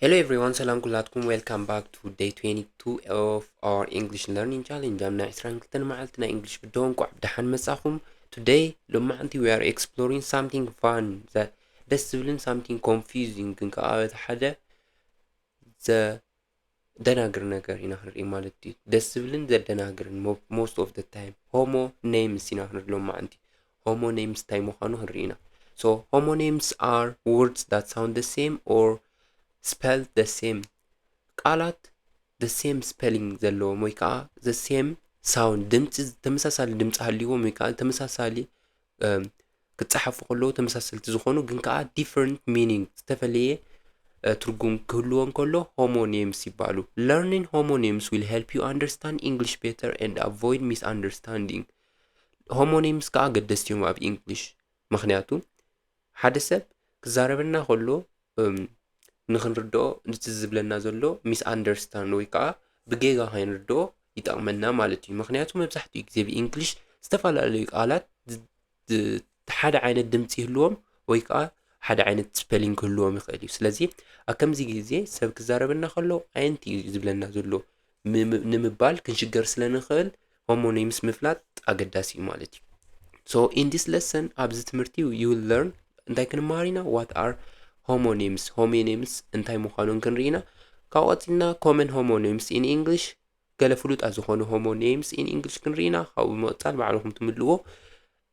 Hello everyone, ሰላም ኩላትኩም ዌልካም ባክ ቱ ዴይ 22 ኦፍ ኣወር ኢንግሊሽ ለርኒንግ ቻሌንጅ ኣብ ናይ 22 መዓልቲ ናይ እንግሊሽ ብዶ እንቋዕ ብደሓን መጻኹም ቱደይ ሎማዓንቲ ዊ ኣር ኤክስፕሎሪንግ ሳምቲንግ ፋን ደስ ዝብልን ሳምቲንግ ኮንፊዚንግ ግን ከዓ በቲ ሓደ ዘ ደናግር ነገር ኢና ክንርኢ ማለት ድዩ ደስ ዝብልን ዘደናግርን ሞስት ኦፍ ደ ታይም ሆሞ ኔምስ ኢና ክንርኢ ሎማዓንቲ ሆሞ ኔምስ ታይ ምዃኑ ክንርኢ ኢና ሶ ሆሞ ኔምስ ኣር ወርድስ ዳት ሳውንድ ደ ሴም ኦር ስፐል ደ ሴም ቃላት ደ ሴም ስፐሊንግ ዘለዎም ወይ ከዓ ዘ ሴም ሳውንድ ድምፂ ተመሳሳሊ ድምፂ ሃልይዎም ወይ ከዓ ተመሳሳሊ ክጸሓፉ ከለዉ ተመሳሰልቲ ዝኾኑ ግን ከኣ ዲፈረንት ሚኒንግ ዝተፈለየ ትርጉም ክህልዎ እንከሎ ሆሞኒምስ ይባሉ ለርኒን ሆሞኒምስ ዊል ሄልፕ ዩ ኣንደርስታንድ ኢንግሊሽ ቤተር ኤንድ ኣቮይድ ሚስ ኣንደርስታንዲንግ ሆሞኒምስ ከኣ ገደስቲ እዮም ኣብ ኢንግሊሽ ምክንያቱ ሓደ ሰብ ክዛረበና ከሎ እም ንኽንርድኦ ንቲ ዝብለና ዘሎ ሚስ ኣንደርስታንድ ወይ ከኣ ብጌጋ ከይንርድኦ ይጠቕመና ማለት እዩ ምኽንያቱ መብዛሕትኡ ግዜ ብእንግሊሽ ዝተፈላለዩ ቃላት ሓደ ዓይነት ድምፂ ይህልዎም ወይ ከዓ ሓደ ዓይነት ስፐሊንግ ክህልዎም ይኽእል እዩ ስለዚ ኣብ ከምዚ ግዜ ሰብ ክዛረበና ከሎ ኣየንቲ እዩ ዝብለና ዘሎ ንምባል ክንሽገር ስለ ንኽእል ሆሞኒምስ ምፍላጥ ኣገዳሲ እዩ ማለት እዩ ሶ ኢን ዲስ ለሰን ኣብዚ ትምህርቲ ዩ ለርን እንታይ ክንመሃር ኢና ዋት ኣር ሆሞኒምስ ሆሞኒምስ እንታይ ምዃኑን ክንርኢ ኢና ካብ ቀፂልና ኮመን ሆሞኒምስ ኢን ኢንግሊሽ ገለ ፍሉጣት ዝኾኑ ሆሞኒምስ ኢን ኢንግሊሽ ክንርኢ ኢና ካብኡ ብምቕፃል ባዕልኹም ትምልዎ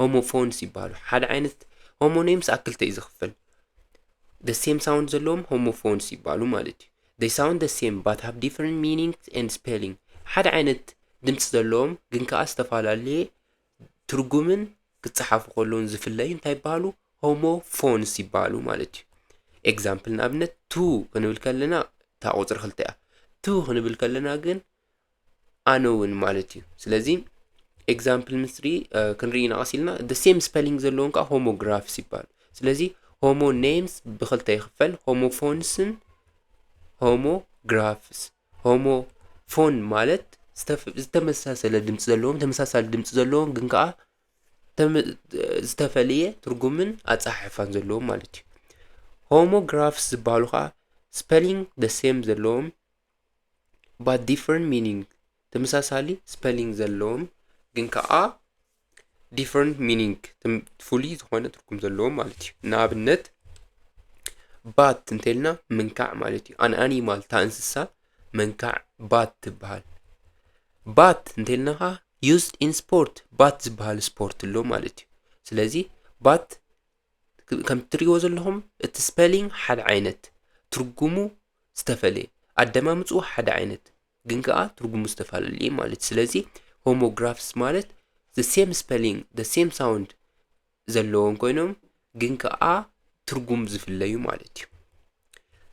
ሆሞፎንስ ይበሃሉ። ሓደ ዓይነት ሆሞኔምስ ኣብ ክልተ እዩ ዝኽፈል። the same sound ዘለዎም ሆሞፎንስ ይበሃሉ ማለት እዩ። they sound the same but have different meanings and spelling ሓደ ዓይነት ድምፂ ዘለዎም ግን ከዓ ዝተፈላለየ ትርጉምን ክፀሓፉ ከለውን ዝፍለዩ እንታይ ይበሃሉ ሆሞፎንስ ይበሃሉ ማለት እዩ። ኤግዛምፕል ንኣብነት ቱ ክንብል ከለና እታ ቁፅሪ ክልተ እያ። ቱ ክንብል ከለና ግን ኣነ እውን ማለት እዩ ስለዚ ኤግዛምፕል ምስ ሪ ክንርኢ ኢና ቀስ ኢልና ደ ሴም ስፐሊንግ ዘለዎም ከዓ ሆሞግራፍስ ይበሃል ስለዚ ሆሞ ኔምስ ብክልተ ይኽፈል ሆሞፎንስን ሆሞግራፍስ ሆሞ ፎን ማለት ዝተፍ- ዝተመሳሰለ ድምፂ ዘለዎም ተመሳሳሊ ድምፂ ዘለዎም ግን ከዓ ተመ- ዝተፈለየ ትርጉምን ኣፀሓሕፋን ዘለዎም ማለት እዩ ሆሞግራፍስ ዝበሃሉ ከዓ ስፐሊንግ ደ ሴም ዘለዎም but different meaning ተመሳሳሊ ስፐሊንግ ዘለዎም ግን ከዓ different meaning ትም- ፍሉይ ዝኾነ ትርጉም ዘለዎም ማለት እዩ ንኣብነት ባት እንተልና ምንካዕ ማለት እዩ ኣን ኣኒማል እታ እንስሳ መንካዕ ባት ትበሃል ባት እንተልና ከዓ used in sport ባት ዝበሃል ስፖርት ኣሎ ማለት እዩ ስለዚ ባት ከም እትሪእዎ ዘለኹም እቲ ስፐሊንግ ሓደ ዓይነት ትርጉሙ ዝተፈለየ ኣደማምፅኡ ሓደ ዓይነት ግን ከዓ ትርጉሙ ዝተፈላለዩ ማለት ስለዚ ሆሞግራፍስ ማለት ዘ ሴም ስፐሊንግ ዘ ሴም ሳውንድ ዘለዎም ኮይኖም ግን ከዓ ትርጉም ዝፍለዩ ማለት እዩ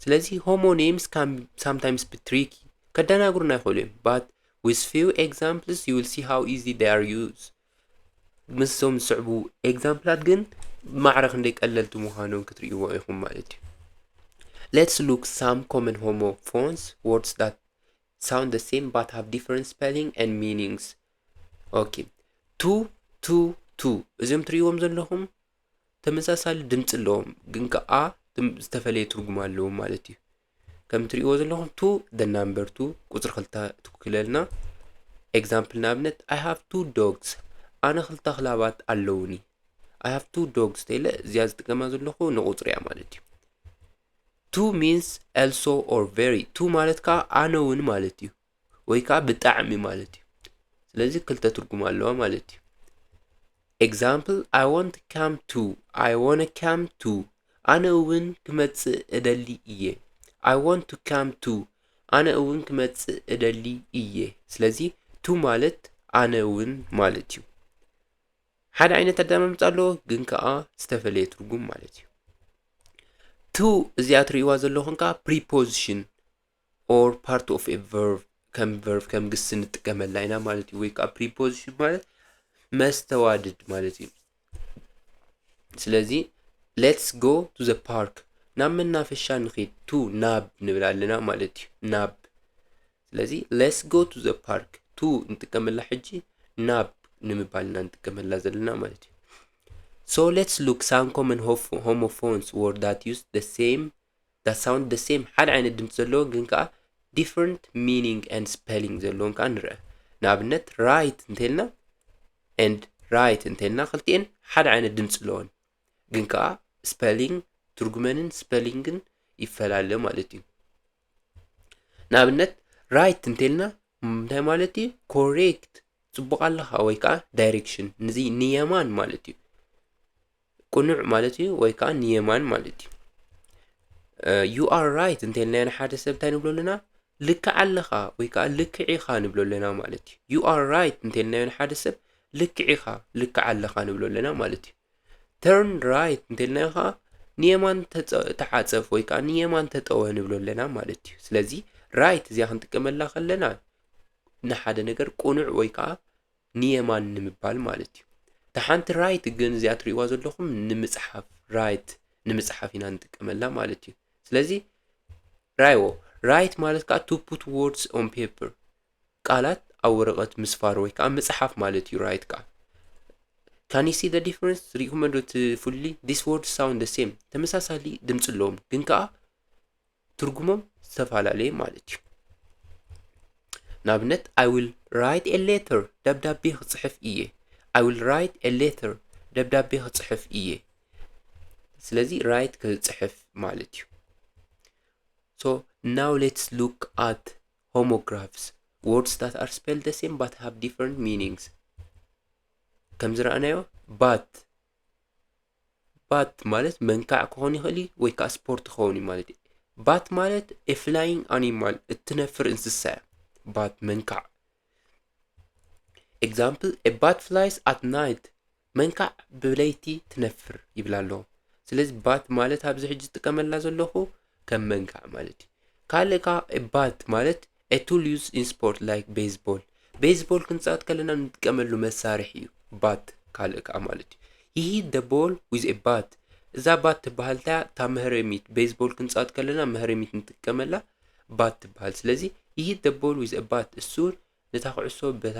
ስለዚ ሆሞኔምስ ካን ሳምታይምስ ቢ ትሪኪ ከደናግሩና ይኽእሉ እዮም ባት ዊዝ ፊው ኤግዛምፕልስ ዩ ዊል ሲ ሃው ኢዚ ዴይ ኣር ዩዝ ምስዞም ዝስዕቡ ኤግዛምፕላት ግን ማዕረ ክንደይ ቀለልቲ ምዃኖም ክትርእይዎ ኢኹም ማለት እዩ ሌትስ ሉክ ሳም ኮመን ሆሞ ፎንስ ወርድስ ዳት ሳውንድ ደ ሴም ባት ሃቭ ዲፈረንት ስፔሊንግ ኤንድ ሚኒንግስ ኦኬ ቱ ቱ ቱ እዚኦም ትርእይዎም ዘለኹም ተመሳሳሊ ድምፂ ኣለዎም ግን ከዓ ዝተፈለየ ትርጉም ኣለዎም ማለት እዩ ከም እትሪእዎ ዘለኹም ቱ ደ ናምበር ቱ ቁፅሪ ክልተ ትውክለልና ኤግዛምፕል ንኣብነት ኣይ ሃቭ ቱ ዶግስ ኣነ ክልተ ክላባት ኣለውኒ ኣይ ሃቭ ቱ ዶግስ ተለ እዚኣ ዝጥቀማ ዘለኹ ንቁፅሪ እያ ማለት እዩ ቱ ሚንስ ኤልሶ ኦር ቨሪ ቱ ማለት ከዓ ኣነ እውን ማለት እዩ ወይ ከዓ ብጣዕሚ ማለት እዩ ስለዚ ክልተ ትርጉም ኣለዋ ማለት እዩ ኤግዛምፕል ኣይ ወንት ካም ቱ ኣይ ወነ ካም ቱ ኣነ እውን ክመፅእ እደሊ እየ ኣይ ወንት ካም ቱ ኣነ እውን ክመፅእ እደሊ እየ ስለዚ ቱ ማለት ኣነ እውን ማለት እዩ ሓደ ዓይነት ኣዳማምፅ ኣለዎ ግን ከዓ ዝተፈለየ ትርጉም ማለት እዩ ቱ እዚኣ ትርእይዋ ዘለኹም ከዓ ፕሪፖዚሽን or part of a verb ከም verb ከም ግስ ንጥቀመላ ኢና ማለት እዩ ወይ ከዓ preposition ማለት መስተዋድድ ማለት እዩ ስለዚ ሌትስ ጎ ቱ ዘ ፓርክ ናብ መናፈሻ ንኺድ ቱ ናብ ንብል ኣለና ማለት እዩ ናብ ስለዚ ሌትስ ጎ ቱ ዘ ፓርክ ቱ ንጥቀመላ ሕጂ ናብ ንምባል ኢና ንጥቀመላ ዘለና ማለት እዩ ሶ ሌትስ ሉክ ሳም ኮመን ሆሞፎንስ ወርዳት ዩስ ደ ሴም that sound the same ሓደ ዓይነት ድምፂ ዘለዎ ግን ከዓ different meaning and spelling ዘለዎም ከዓ ንርአ ንኣብነት right እንተልና and right እንተልና ክልቲኤን ሓደ ዓይነት ድምፂ ኣለወን ግን ከዓ spelling ትርጉመንን ስፐሊንግን ይፈላለ ማለት እዩ ንኣብነት ራይት እንተልና እንታይ ማለት እዩ ኮሬክት ፅቡቅ ኣለካ ወይ ከዓ ዳይሬክሽን ንዚ ንየማን ማለት እዩ ቅኑዕ ማለት እዩ ወይ ከዓ ንየማን ማለት እዩ ዩ ኣር ራይት እንተልና ንሓደ ሰብ እንታይ ንብሎ ኣለና ልክዕ ኣለኻ ወይ ከዓ ልክዕ ኢኻ ንብሎ ኣለና ማለት እዩ ዩ ኣር ራይት እንተልናዮ ንሓደ ሰብ ልክዕ ኢኻ ልክዕ ኣለኻ ንብሎ ኣለና ማለት እዩ ተርን ራይት እንተልናዮ ከዓ ንየማን ተዓፀፍ ወይ ከዓ ንየማን ተጠወ ንብሎ ኣለና ማለት እዩ ስለዚ ራይት እዚኣ ክንጥቀመላ ከለና ንሓደ ነገር ቅኑዕ ወይ ከዓ ንየማን ንምባል ማለት እዩ። እታ ሓንቲ ራይት ግን እዚኣ ትሪእዋ ዘለኹም ንምፅሓፍ ራይት ንምፅሓፍ ኢና ንጥቀመላ ማለት እዩ። ስለዚ ራይዎ ራይት ማለት ከዓ ቱ ፑት ወርድስ ኦን ፔፐር ቃላት ኣብ ወረቐት ምስፋር ወይ ከዓ ምፅሓፍ ማለት እዩ ራይት ከዓ ካን ሲ ደ ዲፍረንስ ሪኢኹም ዶ እቲ ፍሉይ ዲስ ወርድ ሳውንድ ሴም ተመሳሳሊ ድምፂ ኣለዎም ግን ከዓ ትርጉሞም ዝተፈላለየ ማለት እዩ። ንኣብነት ኣይ ዊል ራይት ኤ ሌተር ደብዳቤ ክፅሕፍ እየ። ኣይ ዊል ራይት ኤ ሌተር ደብዳቤ ክፅሕፍ እየ። ስለዚ ራይት ክፅሕፍ ማለት እዩ። ሶ ናው ሌትስ ሉክ ኣት ሆሞግራፍስ ወርድስ ዳት ኣር ስፔል ደ ሴም ባት ሃቭ ዲፈረንት ሚኒንግስ ከምዝረኣናዮ ባት ባት ማለት መንካዕ ክኾን ይኽእል እዩ ወይ ከዓ ስፖርት ክኸውን እዩ ማለት እዩ ባት ማለት ኤፍላይንግ ኣኒማል እትነፍር እንስሳ እያ ባት መንካዕ ኤግዛምፕል ባት ፍላይስ ኣት ናይት መንካዕ ብለይቲ ትነፍር ይብል ኣሎ ስለዚ ባት ማለት ኣብዚ ሕጂ ዝጥቀመላ ዘለኹ ከም መንካዕ ማለት እዩ ካልእ ከዓ ባት ማለት A tool used in sport like baseball ቤዝቦል ክንጻወት ከለና ንጥቀመሉ መሳርሒ እዩ ባት ካልእ ከዓ ማለት እዩ ሂ ደ ቦል ዊዝ ኤ ባት እዛ ባት ትበሃል እንታ እታ መህረሚት ቤዝቦል ክንጻወት ከለና መህረሚት ንጥቀመላ ባት ትበሃል ስለዚ ሂ ደ ቦል ዊዝ ኤ ባት እሱር ነታ ኩዕሶ በታ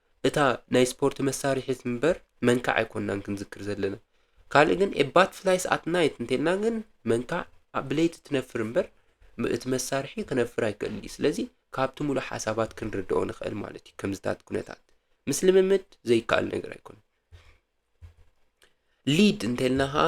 እታ ናይ ስፖርት መሳርሒት እምበር መንካዕ ኣይኮንናን ክንዝክር ዘለና። ካልእ ግን ኤ ባትፍላይስ ኣት ናይት እንተልና ግን መንካዕ ኣብ ብለይቲ ትነፍር እምበር እቲ መሳርሒ ክነፍር ኣይክእልን እዩ። ስለዚ ካብቲ ሙሉእ ሓሳባት ክንርድኦ ንኽእል ማለት እዩ ከምዚታት ኩነታት። ምስ ልምምድ ዘይከኣል ነገር ኣይኮነን። ሊድ እንተልና ኸኣ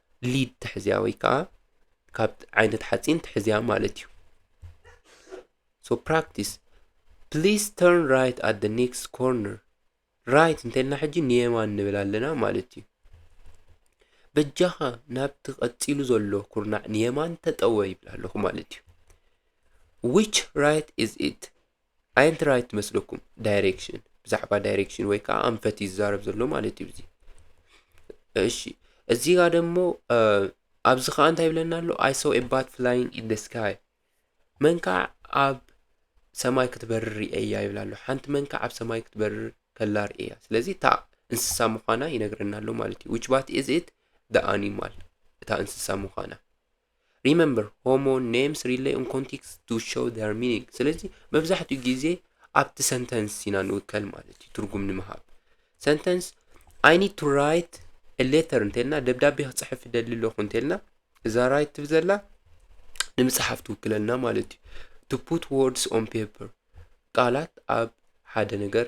ሊድ ትሕዝያ ወይ ከዓ ካብ ዓይነት ሓፂን ትሕዝያ ማለት እዩ ሶ ፕራክቲስ ፕሊስ ተርን ራይት ኣት ደ ኔክስት ኮርነር ራይት እንተልና ሕጂ ንየማን ንብል ኣለና ማለት እዩ በጃኻ ናብቲ ቀፂሉ ዘሎ ኩርናዕ ንየማን ተጠወ ይብል ኣለኹ ማለት እዩ ዊች ራይት ኢዝ ኢት ኣየንት ራይት መስለኩም ዳይሬክሽን ብዛዕባ ዳይሬክሽን ወይ ከዓ ኣንፈት ይዛረብ ዘሎ ማለት እዩ እዚ እሺ እዚህ ጋር ደግሞ ኣብዚ ከዓ እንታይ ይብለና ኣሎ ኣይ ሰው ኤባት ፍላይንግ ኢን ደ ስካይ መንካዕ ኣብ ሰማይ ክትበርር ርእያ ይብል ኣሎ ሓንቲ መንካዕ ኣብ ሰማይ ክትበርር ከላ ርእያ ስለዚ እታ እንስሳ ምዃና ይነግረና ኣሎ ማለት እዩ ዊች ባት ኢዝ ኢት ደ ኣኒማል እታ እንስሳ ምዃና ሪመምበር ሆሞ ኔምስ ሪለይ ኦን ኮንቴክስ ቱ ሾው ዴር ሚኒንግ ስለዚ መብዛሕትኡ ግዜ ኣብቲ ሰንተንስ ኢና ንውከል ማለት እዩ ትርጉም ንምሃብ ሰንተንስ ኣይ ኒድ ቱ ራይት ሌተር እንተልና ደብዳቤ ክፅሕፍ ይደሊ ኣለኹ እንተልና እዛ ራይት ትብል ዘላ ንምፅሓፍ ትውክለልና ማለት እዩ ቱ ፑት ወርድስ ኦን ፔፐር ቃላት ኣብ ሓደ ነገር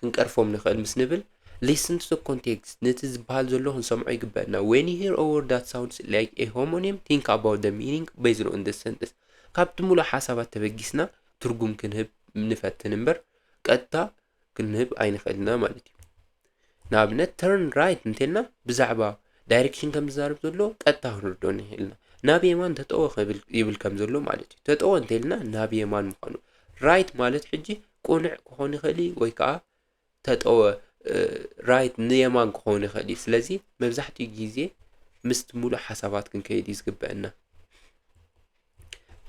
ክንቀርፎም ንኽእል ምስ ንብል Listen to the context ነቲ ዝበሃል ዘሎ ክንሰምዖ ይግበእና When you hear a word that sounds like a homonym think about the meaning based on the sentence ካብቲ ምሉእ ሓሳባት ተበጊስና ትርጉም ክንህብ ንፈትን እምበር ቀጥታ ክንህብ ኣይንኽእል ኢና ማለት እዩ ንኣብነት turn right እንተልና ብዛዕባ ዳይሬክሽን ከም ዝዛረብ ዘሎ ቀጥታ ክንርድኦ ንኽእል ኢና ናብ የማን ተጠወ ይብል ከም ዘሎ ማለት እዩ ተጠወ እንተልና ናብ የማን ምዃኑ ራይት ማለት ሕጂ ቁንዕ ክኾን ይኽእል እዩ ወይ ከዓ ተጠወ ራይት ንየማን ክኸውን ይኽእል እዩ ስለዚ መብዛሕትኡ ግዜ ምስቲ ሙሉእ ሓሳባት ክንከይድ እዩ ዝግበአና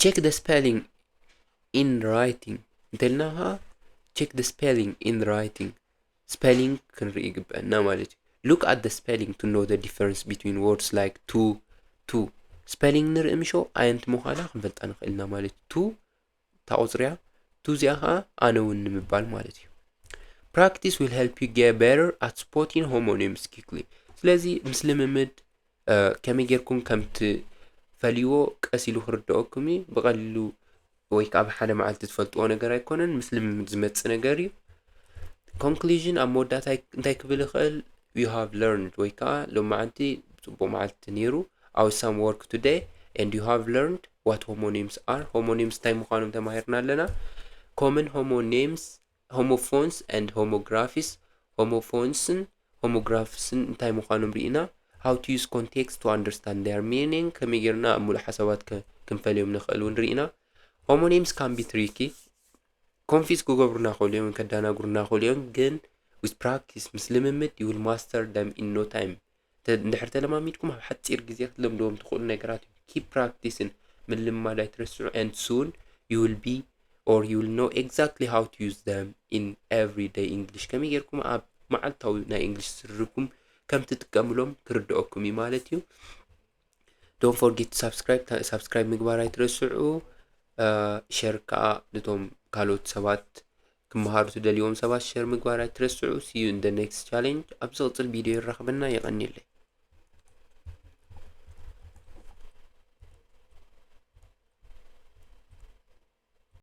ቼክ ደ ስፔሊንግ ኢን ራይቲንግ እንተልና ከዓ ቼክ ደ ስፔሊንግ ኢን ራይቲንግ ስፔሊንግ ክንርኢ ይግበአና ማለት እዩ ሉክ ኣት ደ ስፔሊንግ ቱ ኖ ደ ዲፈረንስ ቢትዊን ወርድስ ላይክ ቱ ቱ ስፔሊንግ ንርኢ ምሾ ኣየንቲ ምዃና ክንፈልጣ ንኽእልና ማለት ቱ እታ ቁፅሪያ ቱ እዚኣ ከዓ ኣነ እውን ንምባል ማለት እዩ ፕራክቲስ ዊል ሄልፕ ዩ ጌት ቤተር ኣት ስፖቲን ሆሞኒምስ ኪክሊ ስለዚ ምስ ልምምድ ከመይ ጌርኩም ከም ትፈልይዎ ቀስ ኢሉ ክርድኦኩም እዩ ብቐሊሉ ወይ ከዓ ብሓደ መዓልቲ ትፈልጥዎ ነገር ኣይኮነን ምስ ልምምድ ዝመፅእ ነገር እዩ ኮንክሉዥን ኣብ መወዳእታ እንታይ ክብል ይኽእል ዩ ሃቭ ለርንድ ወይ ከዓ ሎማዓንቲ ፅቡቅ መዓልቲ ነይሩ ኣው ሳም ወርክ ቱደይ ኤንድ ዩ ሃቭ ለርንድ What homonyms are? ሆሞኒምስ እንታይ ምዃኖም ተማሂርና ኣለና። ኮመን ሆሞኒምስ፣ ሆሞፎንስ ኤንድ ሆሞግራፊስ፣ ሆሞፎንስን ሆሞግራፍስን እንታይ ምዃኖም ርኢና። ሃው ቱ ዩዝ ኮንቴክስት ቱ ኣንደርስታንድ ዴር ሚኒንግ፣ ከመይ ጌርና ኣብ ሙሉእ ሓሳባት ክንፈልዮም ንኽእል እውን ርኢና። ሆሞኒምስ ካን ቢ ትሪኪ፣ ኮንፊዝ ክገብሩና ክእሉ እዮም፣ ከዳናግሩና ክእሉ እዮም፣ ግን ዊዝ ፕራክቲስ ምስ ልምምድ ዩ ዊል ማስተር ደም ኢን ኖ ታይም፣ እንድሕር ተለማሚድኩም ኣብ ሓፂር ግዜ ክትለምድዎም ትኽእሉ ነገራት እዩ ኪፕ ፕራክቲስን ምልማድ ኣይትረስዑ and soon you will be or you will know exactly how to use them in everyday English ከመይ ጌርኩም ኣብ መዓልታዊ ናይ እንግሊሽ ዝርርብኩም ከም ትጥቀምሎም ክርድኦኩም እዩ ማለት እዩ ዶን ፎርጌት ሳብስክራይብ ሳብስክራይብ ምግባር ኣይትረስዑ ሸር ከዓ ነቶም ካልኦት ሰባት ክመሃሩ ትደልዎም ሰባት ሸር ምግባር ኣይትረስዑ ሲዩ እንደ ኔክስት ቻሌንጅ ኣብ ዝቕፅል ቪድዮ ይራኽበና የቐኒለይ